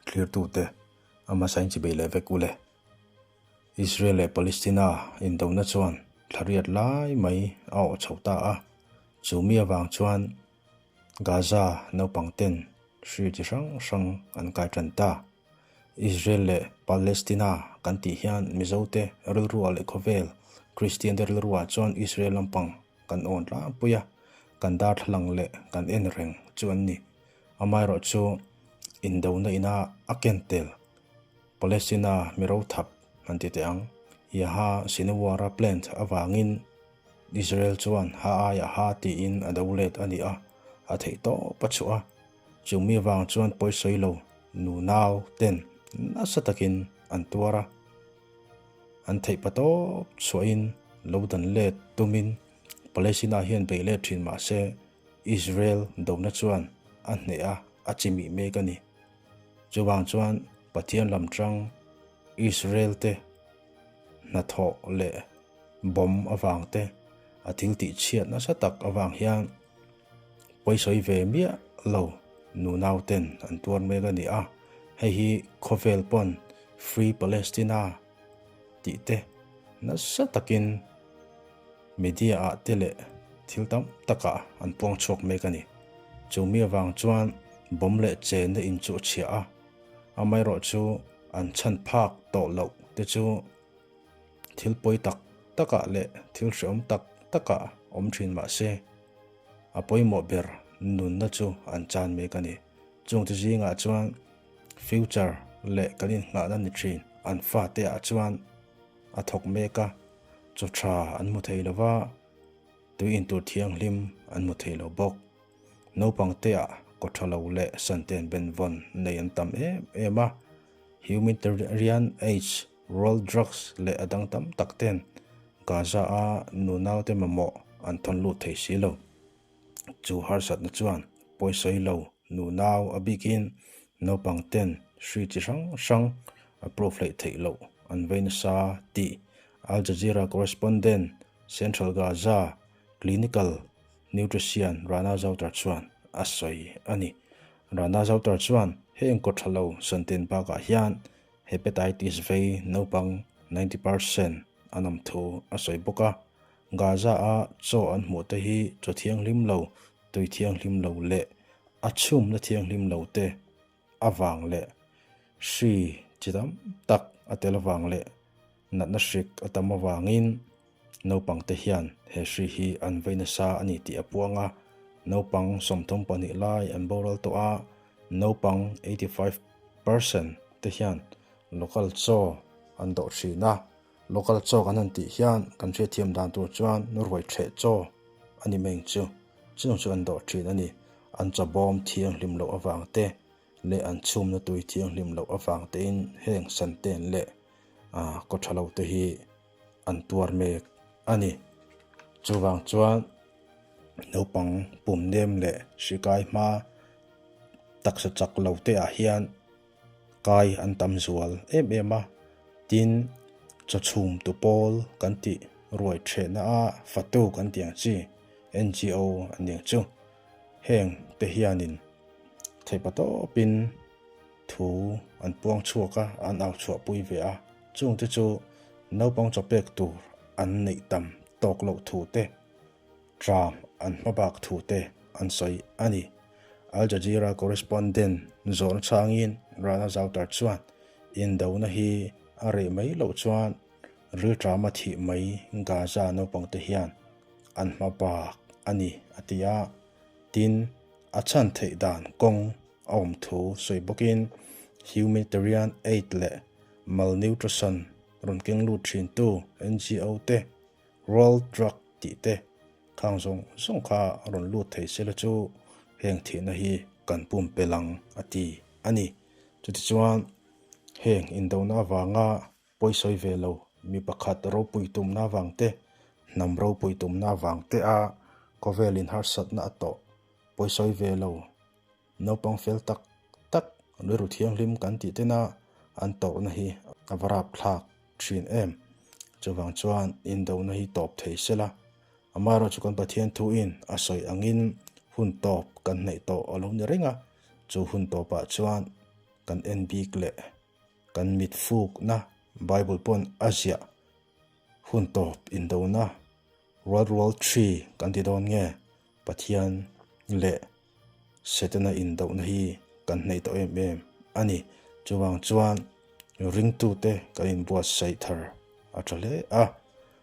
thlirtute a hmasa in chibei leh vek u le. Israel leh Palestina indona chuan thlariat lai mai a awh chho ta a, chumi avang chuan Gaza naupang ten hri chi hrang hrang an kai tan ta. Israel leh Palestina kan tih hian Mizote rilru ah leh khawvel Kristiante rilru ah chuan Israel lampang, kan awn tlangpui a, kan darthlalang leh kan en reng chu an ni. Amaherawh chu indona ina a ken tel Palestina mi rothap an ti teh ang. Yaha Sinwara plant avangin Israel chuan ha a yaha tiin a do let a ni a, a theih tawp a chhuah a. Chumi avang chuan pawisawi lo nunau ten nasa takin an tuar a, An theih pa tawp chhuahin lo dan let tumin Palestina hian bei let thin mahse Israel dona chuan a hneha a chi mih mek a ni. Chuvang chuan Pathian lam chang Israel te hnathawh leh bomb avangte a thil tihchhiat nasa tak avang hian Pawisawi ve miah lo nu nau ten an tuar mek a ni a, hei hi khawvel pawn Free Palestina tih te nasa takin media ah te leh thil tam tak ah an puang chhuak mek a ni. Chumi avang chuan bawm leh chenna in chu a chhiah a, amaherawh chu an chhan phak tawh loh te chu thil pawi tak tak ah leh thil hrehawm tak tak ah awm thin mah se, A pawimawh ber nunna chu an chan mek a ni. Chungte zingah chuan future leh kan innghahna ni thin an fateah chuan a thawk mek a, chaw tha an hmu thei lo va, tui intur thianghlim an hmu thei lo bawk. Naupangtea kaw tha lo leh santen benvawn nei an tam em em a. Humanitarian aid. Rural drugs leh a dang tam tak ten Gaza-a nu naute mamawh an thawn lut thei si lo. Chu harsatna chuan pawisawi lo nu nau a bikin naupang ten hri chi hrang hrang a proof laih theih loh an vei nasa tih Al Jazeera correspondent Central Gaza Clinical Nutrician Rana Zautar chuan a sawi a ni. Rana Zautar chuan heng kawtthalo santen bakah hian Hepatitis vei naupang ninety per cent a nawm thu a sawi bawk a, Gaza-a chaw an hmuh te hi chaw thianghlim lo, tui thianghlim lo leh a chhumna thianghlim lo te avang leh hri chi tam tak a tel avang leh natna hrik a tam avangin, Naupangte hian he hri hi an vei nasa a ni tih a puang a, naupang sawmthum pahnih lai an boral tawh a, naupang eighty five per cent te hian local chaw an dawh thin a, local chaw kan han tih hian kan hriatthiam dan tur chuan ruai theh chaw a ni mai ang chu, chung chu an dawh thin a ni, an chawbawm thianghlim loh avang te leh an chhumna tui thianghlim loh avang tein heng santen leh kawtthalo te hi. an tuar mek a ni. Chuvang chuan naupang pumnem leh hrikai hma taksa chak lo te ah hian kai an tam zual em em a, tin chawchhum tu pawl kan tih ruai thehna a fatu kan tih ang chi, NGO an nih ang chu, heng te hianin theipa tawpin, Thu an puang chhuak a, an au chhuah pui ve a. Chung te chu naupang chaw pek tur an neih tam tawk loh thu te, tram an hma bak thu te an sawi a ni. Al Jazeera correspondent Zawrn Changin Rana Zautar chuan indona hi a reh mai loh chuan rilṭam a thih mai Gaza naupangte hian an hma bak a ni a ti a. Tin, a chhan theih dan kawng a awm thu sawi bawkin humanitarian aid leh malnutrition rawn keng lut thintu NGO te, World Drug tih te khang zawng zawng kha rawn lut thei se la chu heng thihna hi kan pum pelh ang a ti a ni. Chutichuan heng indona avanga. Pawisawi ve lo, mi pakhat ropui tumna avang te, hnam ropui tumna avang te a khawvel inharsatna a tawh. Pawisawi ve lo, naupang fel tak tak rilru thianghlim kan tih tena an tawrhna hi a va rapthlak thin em. Chuvang chuan indona hi tawp thei se la, amaherawhchu kan Pathian thuin a sawi angin hun tawp kan hnaih tawh a lo ni reng a, chu hun tawpah chuan kan en bik leh Kan mit fukna Bible pawn a ziah hun tawp indona rualrual thi kan ti dawn nge? Pathian leh Setana indohna hi kan hnaih tawh em em a ni. Chuvang chuan ringtute kan inbuatsaih thar a tha hle a.